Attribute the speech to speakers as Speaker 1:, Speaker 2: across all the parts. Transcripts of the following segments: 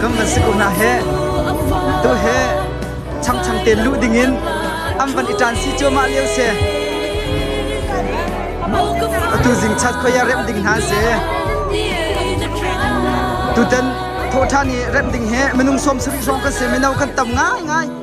Speaker 1: Kan van si ko hna heh! Tu hi changchang tein luh dingin an van i ṭan si cuahmah lio si. Atu zingchat khoia remh ding hna si. Tutan thawhṭhan i remh ding hi minung sawm sarih hrawng kan si. Mino kan tam ngaingai.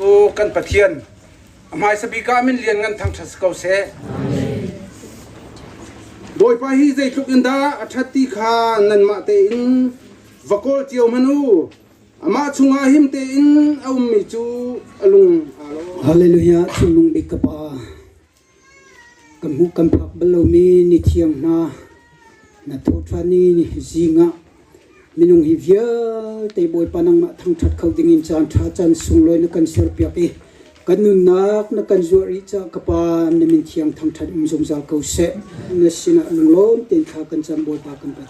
Speaker 1: Aw kan Pathian, a hmaisa bik ah min lian ngan thangṭhat si ko seh. Bawipa hi zeitluk in dah a ṭhat ti kha nanmah tein va kawl cio hmanh u. Amah chungah him tein a ummi cu a lung aa lo. Hallelujah, Thinlung Bik ka Pa, Ka hmuh kan phak bal lomi nithiang hna, na tho ṭhan i zing ah minung hi vialte Bawipa nangmah thangṭhat kho dingin caanṭha caan sunglawi na kan serpiak i kan nunnak na kan zuah rih caah ka Pa na min thiang thangṭhat um zungzal ko seh. Na sinah lunglawm tein thla kan cam Bawipa kan pek.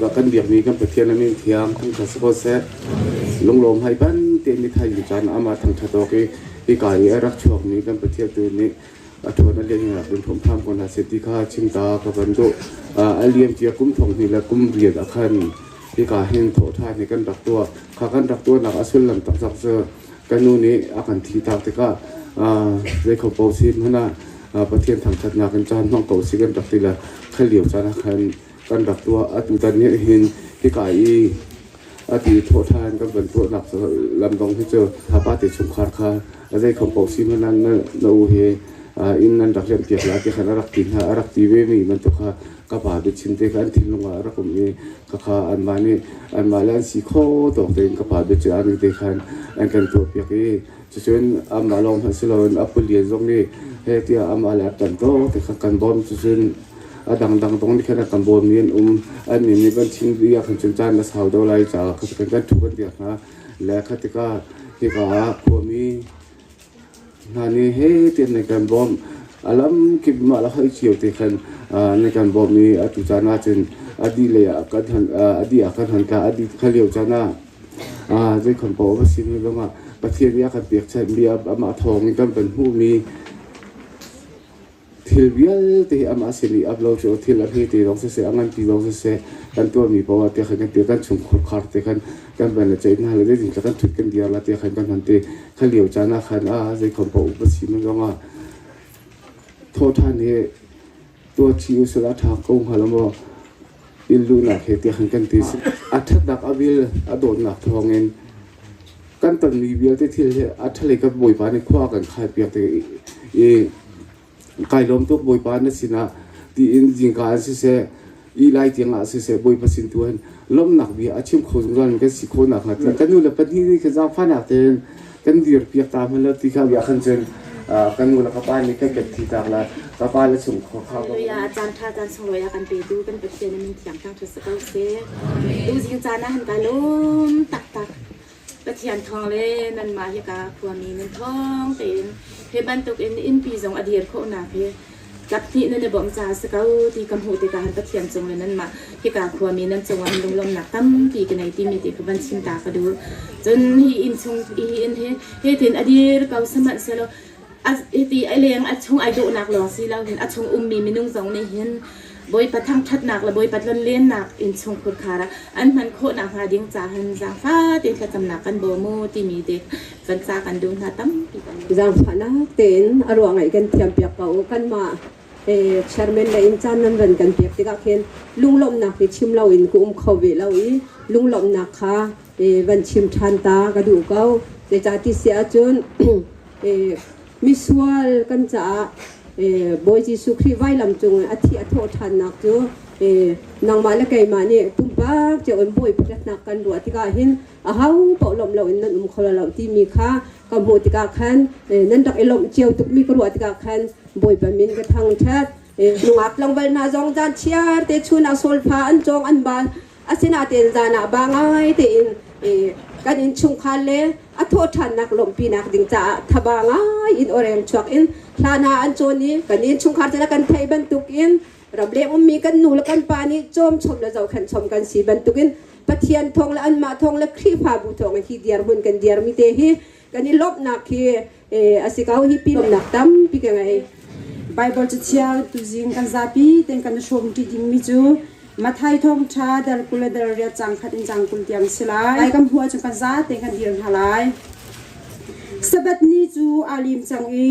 Speaker 1: bak kan biakmi kan pathian amin thiam kan kha siko se lunglawm hai ban te mi thai mi chan ama thang tha to ke i ka i rak chuak mi kan pathian tu ni a thona le ni rak bin phom tham kon ha se ti kha chimta ka ban do aliam tia kum thong ni la kum riad akhan i ka hin tho tha ni kan rak tua kha kan rak tua nak asul lam tak sak kan nu nih a kan thihtak tikah zei kho paoh si hmanh ah Pathian thangṭhatnak in caan hmang ko si kan rak ti le khat lio caan ah khan kan rak tuah. Atutan nih hin hika i a ti thawhṭhan kan van tuahnak lam zong hi cu hapa te chungkhar kha a zei kho paoh si hmanh ah na u hi inn an rak liampiak lai ti khan a rak ti hna. A rak ti vemi bantuk kha ka pa biachim te kha an thinlung ah a rak um i Khakha anmah nih anmah le an si kho tawk tein ka pa biaṭial ning te khan an kan tuahpiak i cucun anmah lawng hmanh si loin a palian zong nih heh tiah amah le a ṭanh tawk te kha kan bawm cucun a dangdang zong nih khan a kan bawmmi an um annih nih van chin dih ahkhan cun caan a sau deuh lai caah kha kan kan ṭhu kan diak hna le kha tikah hika ah khuami Hna nih hitin na kan bawmh. A lamkip in mah le hoih cio te khan na kan bawmh i atu caan ahcun a dih lei ah kan hon a dih ah kan hon tla. A dih hna lio caan ah zeikhon paoh a va si ne zongah Pathian nih a kan pekchanh mi amah thawng in kan van hmuhmi thil vialte hi amah sin i up lo cu thil a hme te zong siseh a ngan ti zong siseh kan tuarmi poah te khan kan tial kan chung khurkhar te khan kan van le ceih hna le zeitin tla kan thut kan diar la te khan kan hman te kha lio caan ah khan a zeikhom poah upasi mun zong ah thawthan hi tuathi usala thang ko hnga lo maw inn luhnak he tiah kan ti a ṭhatnak a vil a dawtnak thawngin kan tonmi vialte thil hi a ṭhalei kan bawipa nih khua kan khai piak te i kai lawm tuk bawipa na sinah tiin zingka an siseh i lai tiangah siseh bawipa sin tu hin lawmnak bia a chim kho zungzal mi kan si khawh nakhnga kan nu le pahnih nih khan zaangfahnak tein kan dir piak ta hna lo ti ka bia khan cun kan nu le ka pa nih kan ket thi tak la ka pa le chung khua kha ya a chan tha chan sung loya kan pe tu kan pathian min thiang thang thut ko se tu ding chan na han ka lom tak tak pathian thong le nan ma hi ka khua mi nan thong te in he bantuk in in pi zong adir kho na pe Kaphnih nan i bawmh caah si ko ti kan hmuh tikah han Pathian cungin nanmah hika khuami nan cungah min lunglawmnak tampi ka nei timi ti ka van chim ta ka duh. Cun hi inn chung hi inn hi hitin a dir ko sihmanhsehlaw a hiti a leng a chung ai dawhnak lawng si loin a chung ummi minung zong nih hin Bawipa thangṭhatnak le Bawipa tlonlennak innchung khutkar ah an hman khawh nakhnga ding ca hin zaangfah tein thlacamnak kan bawm u timi te kan ca kan duh hna tampi kan zaangfahnak tein a ruangaih kan thiampiak ko u kanmah chairman le in caan nan ran kan pek tikah khin lunglawmhnak hi chim loin ka um kho ve lo i lunglawmhnak kha van chim ṭhan ta ka duh ko zeicah ti si ahcun Misual kan caah Bawi Jesuh Khrih vailam cung a thi a thawh ṭhannak cu nangmah le keimah nih pumpak cio in Bawi pakhatnak kan ruah tikah hin ahopaoh lawmh loin nan um kho lo timi kha ka hmuh tikah khan nan rak i lawmh cio tukmi ka ruah tikah khan Bawipa min ka thangṭhat. Nungak tlangval hna zong caan chiarte chun ah solfa an cawng an bal Asinain zan ah ba ngai tein kan innchungkhar le a thawhṭhannak lawmhpinak ding caah thaba ngai in oreng chuak in hlan ah an cawn i kan innchungkhar cu kan theih bantukin rableng ummi kan nu le kan pa nih cawmchom le zohkhenhchom kan si bantukin Pathian thawng le anmah thawng le Khrihfabu thawng hi dirhmun kan dirmi te hi kan i lawmhnak hi a si ko hi pimnak tampi ka ngei Bible cathiang tuzing kan zapi ten kan hrawm ṭi dingmi cu Mathai thawngṭha dar kul le dar riat cang khat in cang kul tiang si lai lai kan hmuh ahcun kan za ten kan dir hna lai Sabbath ni cu aa lim cang i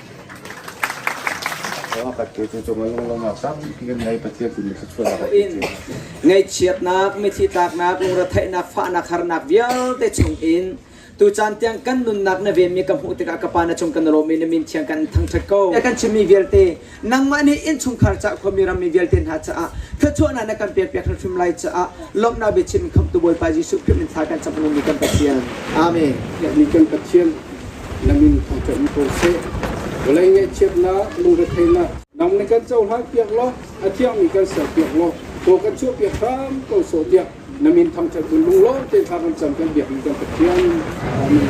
Speaker 1: Ngaihchiatnak, mithi tlaknak, lungretheihnak, fahnak, harnak vialte chungin tucaan tiang kan nunnak na venmi ka hmuh tikah ka pa na chung kan lawm i na min thiang kan thangṭhat ko. Kan chimmi vialte nangmah nih inn chungkhar caah khuami rammi vialte hna caah thluachuahnak na kan pekpiak hrimhrim lai caah lawmhnak biachim khamtu Bawipa Jesuh Khrih min tha kan cam lungmi kan Pathian. Amen. Kan Pathian na min kha ṭem ko seh. Vawlei ngaihchiatnak, lungretheihnak dang nih kan cohlan piak law a thiangmi kan ser piak law kaw kan chuahpiak hram ko sawh tiah na min thangṭhat hun lunglawm te hla kan cam kan biakmi kan Pathian. Amen.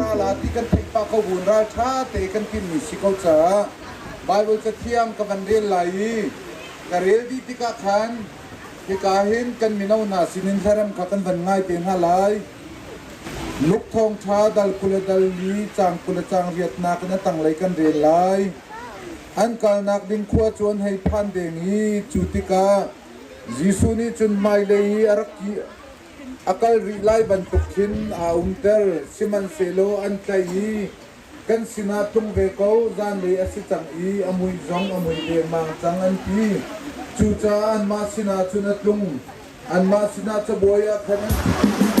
Speaker 1: Rala ti kan theih pah ko buin raltha te kan timmi si ko caah Bible cathiang ka van rel lai i ka rel dih tikah khan hika hin kan mino hna sinin hlarem kha kan van ngai te hna lai luk thong tha dal kula dal mi cang kula cang riatnak in a tanglei kan rel lai an kalnak ding khua cuan hei phan deng i cu tikah Jesuh nih cun hmailei i a rak a kal rih lai bantuk khin aa umter, sihmanhsehlaw an tlaih i, Kan sinah tlung ve ko, zanlei a si cang i a mui zong a mui dengmang cang, an ti. Cucaah anmah sinah cun a tlung, anmah sinah cabuai ah khan an ṭhu.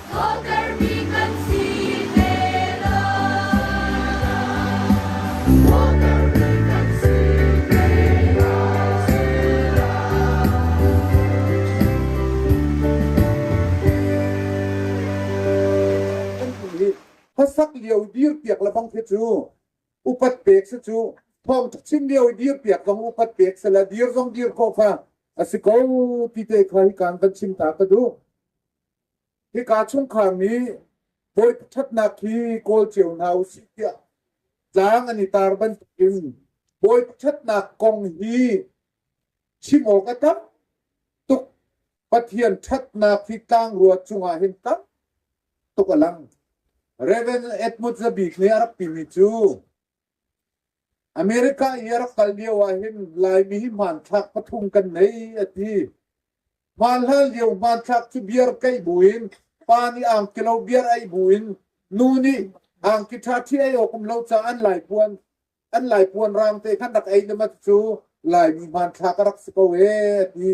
Speaker 1: khuasak lio dir piak le bang khi cu upat pek si cu thawng ṭha chim lio i dir piak zong upat pek se la dir zong dir ko kha a si ko ti te kha hi kan kan chim ta ka duh Hika chungkhar nih voi ṭhatnak hi kawl cio hna u sih tiah tlang an i tar bantukin bawi ṭhatnak kong hi chim awk a tam tuk Pathian ṭhatnak hi tlangrua cungah hin tam tuk a lang. Reverend Edmund Zabik nih a rak timi cu America i a rak kal lio ahhin Laimi hi hmanthlak pathum kan nei a ti. Hmanhlan lio hmanthlak cu beer keih buin pa nih angki lo beer ei buin nu nih angki ṭha ṭhi ei awk um lo caah an laipuan an laipuan raang te khan rak ei le mat cu Laimi hmanthlak a rak si ko ee a ti.